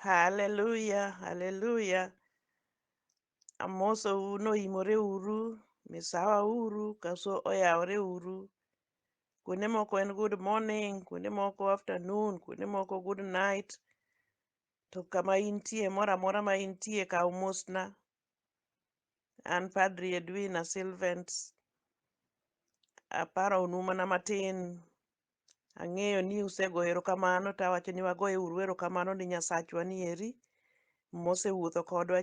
Hallelujah, hallelujah. Amosou noimore uru, misawa uru, kaso oyawore uru. Kuonde moko en good morning, kuonde moko afternoon, kuonde moko good night. To kama intie, moro amora ma intie, kaw mosna. An Padri Edwina Silvent, aparonu mana matin Ang'eyo ni usegoyo erokamano to awacho ni wagoye uru erokamano ni Nyasachwa ni eri mosewuotho kodwa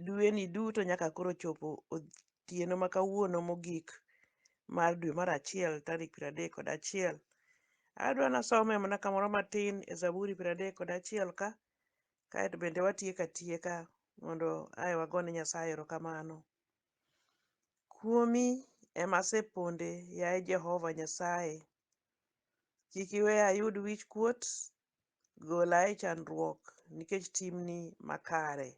dweni duto nyaka koro chopo otieno ma kawuono mogik mar dwe mar achiel tarik piero adek kod achiel. Adwa nasome mana kamoro matin e Zaburi piero adek kod achiel ka, kaeto bende watieko atieka mondo ae wagone Nyasaye erokamano. Kuomi ema aseponde, yaye Jehova Nyasaye. Kik iwe ayud wichkuot, gola e chandruok nikech timni makare.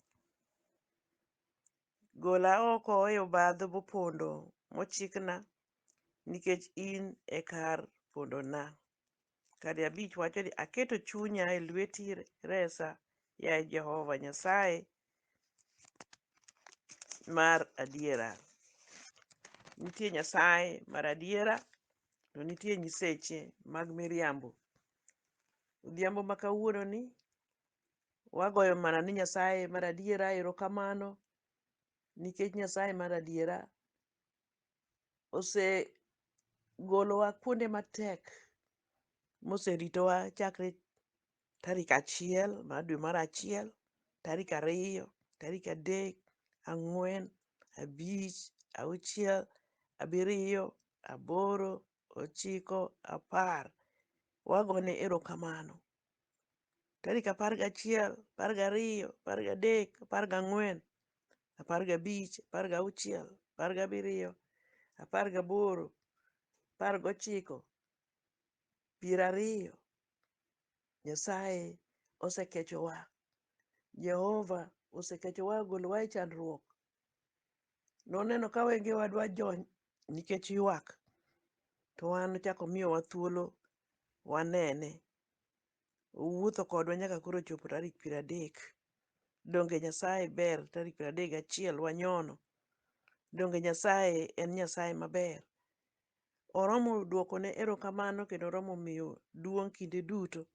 Gola oko e obadho mopondo mochikna, nikech in e kar pondona. Kadi abich wacho ni, Aketo chunya e lweti, resa, yaye Jehova Nyasaye mar adiera. Nitie Nyasaye mar adiera, to nitie nyiseche mag miriambo. Odhiambo ma kawuononi, wagoyo mana ni Nyasaye mar adiera erokamano nikech Nyasaye mar adiera osegolowa kuonde matek moseritowa chakre tarik achiel mar dwe mar achiel, tarik ariyo, tarik adek, ang'wen, abich, auchiel, abiriyo, aboro, ochiko, apar. Wagone erokamano tarik apar gachiel, apar gariyo, apar gadek, apar gang'wen, apar gabich, apar gauchiel, apar gabiriyo, apar gaboro, apar gochiko, piero ariyo. Nyasaye osekechowa. Jehova osekechowa ogolowa e chandruok. Noneno ka wengewa dwa jony nikech ywak, to wan ochako omiyowa thuolo wanene. Owuotho kodwa nyaka koro ochopo tarik piero adek. Donge Nyasaye ber tarik piero adek gachiel wanyono? Donge Nyasaye en Nyasaye maber? Oromo dwokone erokamano kendo oromo miyo duong' kinde duto.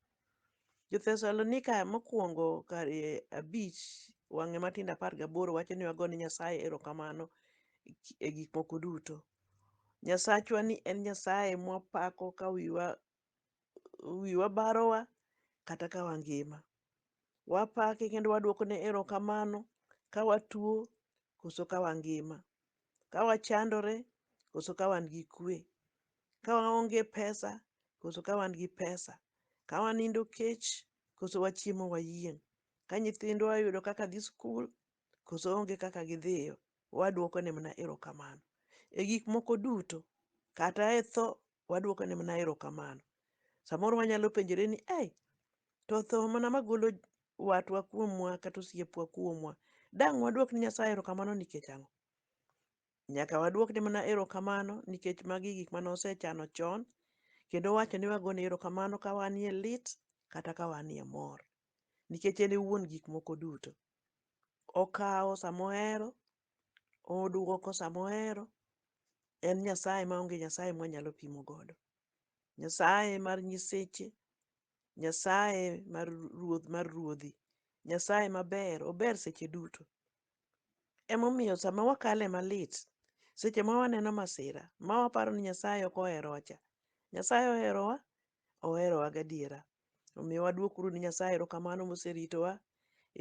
Jo-Thesalonika mokwongo kar e abich wang'e matindo apar gaboro wacho ni wago ne Nyasaye erokamano e gik moko duto. Nyasachwa ni en Nyasaye mwapako ka wiwa wiwa barowa kata ka wangima. Wapake kendo waduokone erokamano ka watuo koso ka wangima, ka wachandore koso ka wan gi kwe, ka waonge pesa koso ka wan gi pesa, ka wanindo kech koso wachiemo wayieng', ka nyithindwa oyudo kaka dhi skul Koso onge kaka gidhiyo? Wadwokone mana erokamano. E gik moko duto, kata e tho, wadwokone mana erokamano. Samoro wanyalo penjore ni, ei, to tho mana magolo watwa kuomwa kata osiepwa kuomwa, dang' wadwok ni Nyasaye erokamano nikech ang'o? Nyaka wadwokne mana erokamano nikech magi gik mane osechano chon, kendo owacho ni wagone erokamano ka wanie lit kata ka wanie mor, nikech en e wuon gik moko duto. Okawo sama ohero, oduoko sama ohero. En Nyasaye ma onge Nyasaye mwanyalo pimo godo. Nyasaye mar nyiseche, Nyasaye mar ruoth mar ruodhi, Nyasaye maber, ober seche duto. Emomiyo sama wakale malit, seche ma waneno masira, ma waparo ni Nyasaye ok oherowa cha, Nyasaye oherowa, oherowa gadiera. Omiyo wadwok uru ni Nyasaye erokamano moseritowa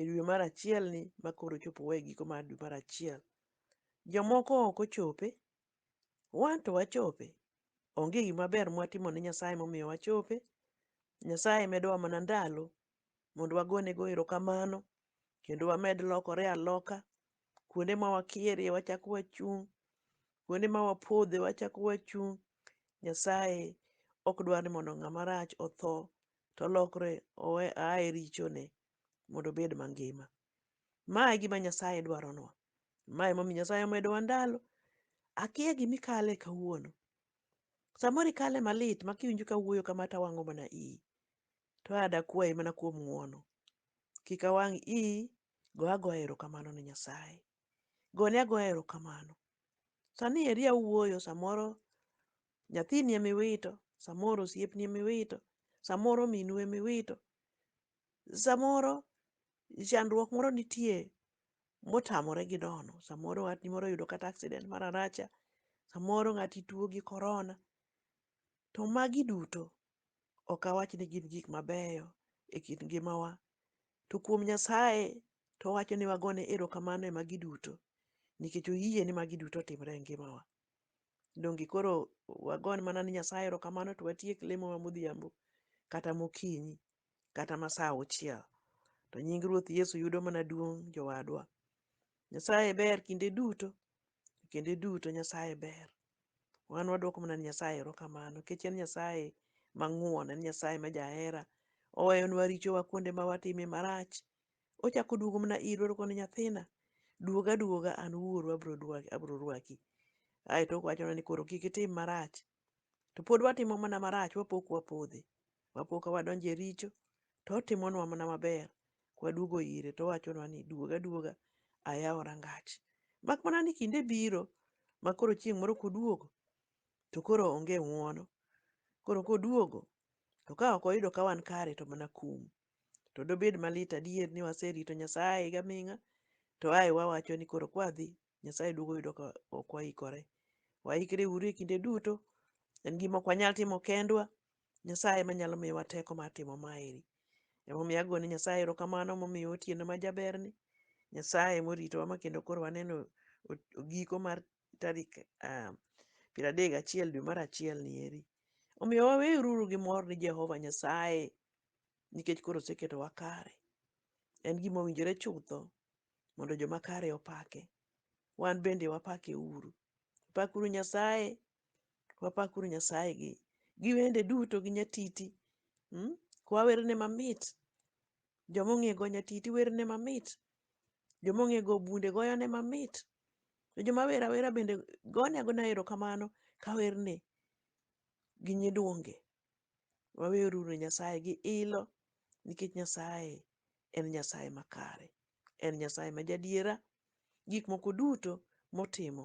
e dwe mar achiel ni ma koro chopo wa e giko mar dwe mar achiel. Jomoko ok ochope, wan to wachope. Onge gima ber mwatimo ne Nyasaye momiyo wachope. Nyasaye medowa mana ndalo mondo wagonego erokamano kendo wamed lokore aloka kuonde ma wakierie wachako wachung' kuonde ma wapodhe wachako wachung' nyasaye ok dwar ni mondo ng'ama rach otho to olokre owe aye richone mondo obed mangima ma e gima nyasaye dwaronwa ma emomiyo nyasaye omedowa ndalo akia gimikale kawuono samoro ikale malit ma kiwinjo ka wuoyo kama to awang'o mana iyi to adakwayi mana kuom ng'wono kik awang' iyi Go agoya erokamano ne Nyasaye. Gone agoya erokamano. Sani eri awuoyo, samoro nyathini ema iwito, samoro osiepni ema iwito, samoro minu ema iwito, samoro chandruok moro nitie motamore gi dono, samoro watni moro oyudo kata accident mar aracha, samoro ng'ati tuo gi korona. To magi duto ok awach ni gin gik mabeyo e kit ngimawa, to kuom Nyasaye to owacho ni wagone erokamano e magi duto nikech oyie ni magi duto otimre e ngimawa. Donge koro wagon mana ni Nyasaye erokamano to watiek lemo ma modhiambo kata mokinyi kata ma saa auchiel to nying Ruoth Yesu yudo mana duong' jowadwa. Nyasaye ber kinde duto, kinde duto Nyasaye ber. Wan waduoko mana ne Nyasaye erokamano nikech en Nyasaye mang'won, en Nyasaye ma jahera. Oweyonwa richowa kuonde ma watime marach. Ochako oduogo mana irwa to koni nyathina, duog aduoga an wuoru abro dwa abro rwaki. Aeto owachonwa ni koro kik itim marach. To pod watimo mana marach wapo ka wapodho. wapo ka wadonjo e richo to otimonwa mana maber. Kwaduogo ire to owachonwa ni duog aduoga ayawo rangach. Mak mana ni kinde biro ma koro chieng' moro koduogo to koro onge ng'uono. Koro koduogo to ka ok oyudo ka wan kare to mana kum. To dobed malit adier ni waserito Nyasaye gaming'a to ae wawacho ni koro kwadhi Nyasaye duogo oyudo ka ok waikore. Waikre uru e kinde duto, en gima ok wanyal timo kendwa, Nyasaye ema nyalo miyowa teko mar timo maeri. Emomiyo ago ni Nyasaye erokamano momiyo otieno ma jaberni. Nyasaye moritowa ma kendo koro waneno giko mar tarik ah, piero adek gachiel dwe mar achiel ni eri. Omiyo waweruru gi mor ni Jehova Nyasaye nikech koro oseketowa kare. En gima owinjore chutho mondo joma kare opake. Wan bende wapake uru. Pakuru Nyasaye Wapakuru Nyasaye gi gi wende duto gi nyatiti. Mm? Kwa werne mamit. Joma ong'e go nyatiti werne mamit. Joma ong'e go bunde goyone mamit. To joma wer awera bende gone agona erokamano ka werne gi nyiduonge. Waweruru ne Nyasaye gi ilo nikech Nyasaye en Nyasaye makare. En Nyasaye ma jadiera. Gik moko duto motimo